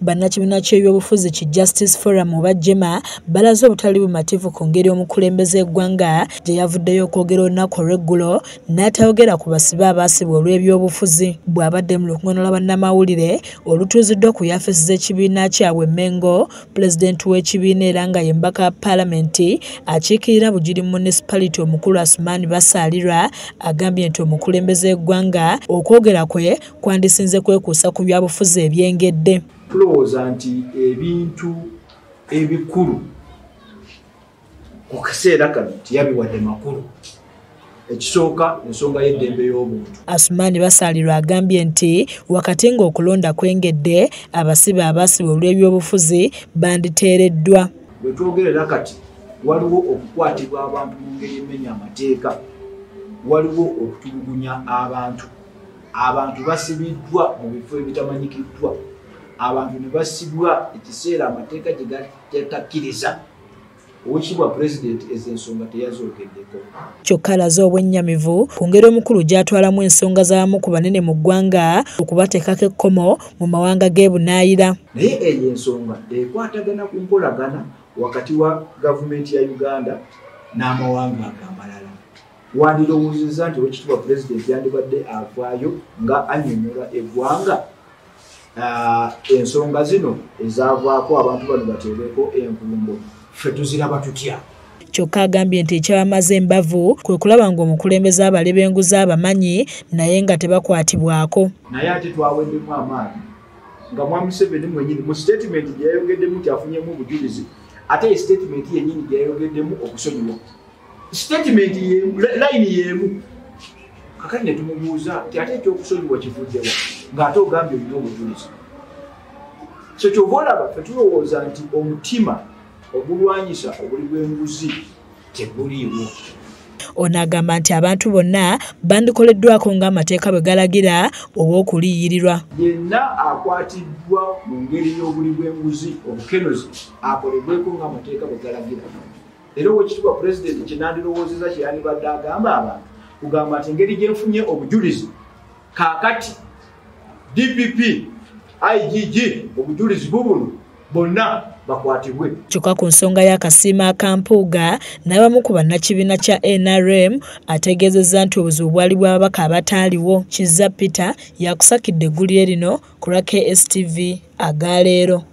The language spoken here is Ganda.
Bannakibiina ky'ebyobufuzi ki Justice Forum oba Jema balaze obutali bumativu ku ngeri omukulembeze eggwanga gye yavuddeyo okwogera olunaku olw'eggulo n'atayogera ku basibe abaasibwa olw'ebyobufuzi bw'abadde mu lukungaana lwa bannamawulire olutuuziddwa ku yafeesi z'ekibiina kyabwe Mengo pulezidenti w'ekibiina era nga ye mbaka wa paalamenti akiikirira Bugiri munisipaliti omukulu Asumaani Basaalirwa agambye nti omukulembeze eggwanga okwogera kwe kwandisinze kwekuusa ku byabufuzi ebyengedde tulowooza nti ebintu ebikulu okuseera kano tiyabiwadde makulu ekisooka ensonga y'eddembe y'obuntu asumaani basaalirwa agambye nti wakati ng'okulonda kwengedde abasibe abasiba olw'ebyobufuzi banditeereddwa bwe twogerera kati waliwo okukwatibwa abantu mu ngeri emenya amateeka waliwo okutulugunya abantu abantu basibiddwa mu bifo ebitamanyikiddwa abantu ne basibwa ekiseera amateeka gye gatakkiriza owekitibwa pulezidenti ezo ensonga teyazoogeddeko kyokka alaze obwennyamivu ku ngeri omukulu gy'atwalamu ensonga z'abamu ku banene mu ggwanga okubateekako ekkomo mu mawanga g'ebunaayira naye eyo ensonga ekwatagana ku nkolagana wakati wa gavumenti ya uganda n'amawanga ago amalala wandirowoozezza nti owekitiibwa pulezidenti yandibadde avaayo nga anyonyola eggwanga ah, ensonga zino ezaavaako abantu bano bateebeko envumbo ffe tuziraba tutya kyokka agambye nti ekyabamaze embavu kwe kulaba ng'omukulembeze abale b'enguzi abamanyi naye nga tebakwatibwako naye ate twaweddemu amaanyi nga mwamuseveni mwenyini mu sitatimenti gyeyayogeddemu nti afunyemu obujulizi ate esitatimenti yennyini gyeyayogeddemu okusonyiwa statement yemu line yemu kakati netumubuuza nti ate ekyokusonyiwa kivuddewa ng'ate ogambye olina obujulizi kyo kyova olaba fe tulowooza nti omutima ogulwanyisa obuli bw'enguzi teguliiwo ono agamba nti abantu bonna bandikoleddwako ng'amateeka bwe galagira ow'okuliyirirwa yenna akwatiddwa mu ngeri y'obuli bw'enguzi obukenuzi akolebweko ng'amateeka bwe galagira era owekitibwa pulezidenti kyenandirowoozeza kyeyandibadde agamba abantu kugamba nti engeri gyenfunye obujulizi kakati dpp igg obujulizi bubuno bonna bakwatibwe kyokka ku nsonga y'akasiima akampuuga n'abamu ku bannakibiina kya nrm ategeezezza nti obuzibu bwali bw'ababaka abataaliwo kizza peter yakusakidde eggulire lino ku lwa kstv aga leero